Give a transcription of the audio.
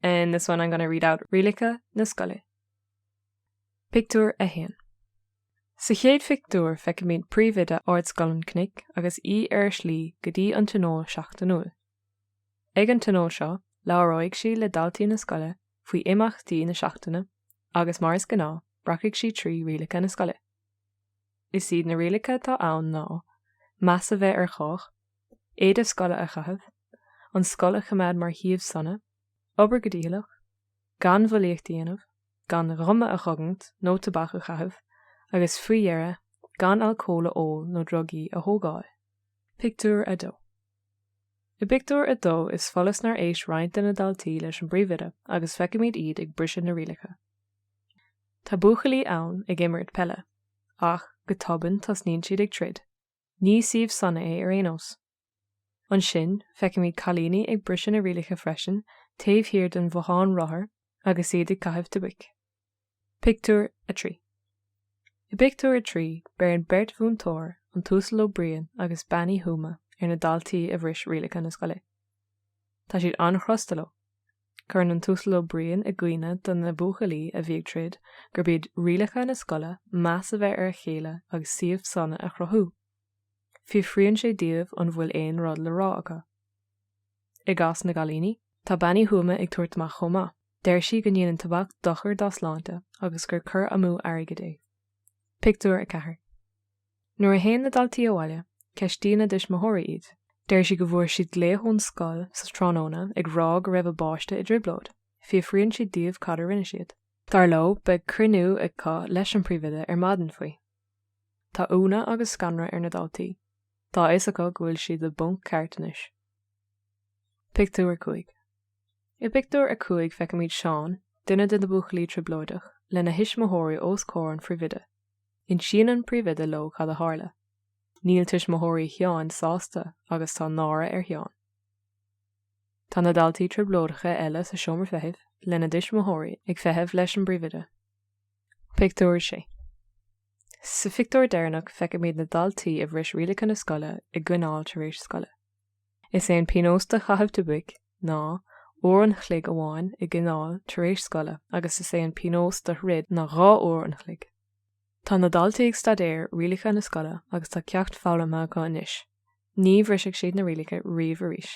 In this one I'm gonna read out rialacha na scoile. Pictiúr 1. Sa chéad phictiúr feicimid príomhoide Ardscoil an Chnoic agus í ar a slí go dtí an Tionól Seachtainiúil. Ag an tionól seo labhróidh sí le daltaí na scoile faoi imeachtaí na seachtaine agus mar is gnáth rachfaidh sí trí rialacha na scoile. Is iad na rialacha atá ann ná, meas a bheith ar chách, éide scoile a chaitheamh, an scoil a choimeád mar shuíomh sona, obair go dícheallach, gan bhulaíocht a dhéanamh, gan ghuma a chogaint nó tobac a chaitheamh agus faoi dheireadh gan alcól a ól nó drugaí a thógáil. Pictiúr 2. I bpictiúr a dó, is follas nár éist roinnt de na daltaí leis an bpríomhoide agus feicimid iad ag briseadh na rialacha. Tá buachaillí ann ag imirt peile. Ach, go tobann, tosnaíonn siad ag troid. Ní suíomh sona é ar aon nós. Ansin, feicimid cailíní ag briseadh na rialacha freisin, taobh thiar den bhothán rothar agus iad ag caitheamh tobac. Pictiúr 3 I bpictiúr a trí, beireann beirt mhúinteoir, an tUasal Ó Briain agus Bean Uí Thuama, ar na daltaí a bhris rialacha na scoile. Tá siad an-chrosta leo. Cuireann an tUasal Ó Briain i gcuimhne do na buachaillí a bhí ag troid gurb iad rialacha na scoile meas a bheith ar a chéile agus suíomh sona a chruthú. Fiafraíonn sé díobh an bhfuil aon rud le rá acu. I gcás na gcailíní, tá Bean Uí Thuama ag tabhairt amach chomh maith. Deir sí go ndéanann tobac dochar dá sláinte agus gur cur amú airgid é. Pictiúr 4 Nuair a théann na daltaí abhaile, ceistíonn a dtuismitheoirí iad. Deir sí go bhfuair siad glaoch ón scoil sa tráthnóna ag rá go raibh a bpáiste i dtrioblóid. Fiafraíonn siad díobh cad a rinne siad. Dar leo, beidh cruinniú acu leis an bpríomhoide ar maidin faoi. Tá ionadh agus scanradh ar na daltaí. Tá a fhios acu go bhfuil siad i bponc ceart anois. Pictiúr 5 I bpictiúr a cúig feicimid Seán, duine de na buachaillí trioblóideach, lena thuismitheoirí os comhair an phríomhoide. Insíonn an príomhoide leo cad a tharla. Níl tuismitheoirí Sheáin sásta agus tá náire ar Sheán. Tá na daltaí trioblóideacha eile sa seomra feithimh lena dtuismitheoirí ag feitheamh leis an bpríomhoide. Pictiúr 6 Sa phictiúr deireanach feicimid na daltaí a bhris rialacha na scoile i gcoinneáil tar éis scoile. Is é an pionós do chaitheamh tobaic ná uair an chloig amháin i gcoinneáil tar éis scoile agus is é an pionós do throid ná dhá uair an chloig. Tá na daltaí ag staidéar rialacha na scoile agus tá ceacht foghlamtha acu anois, ní bhrisfidh siad na rialacha riamh arís.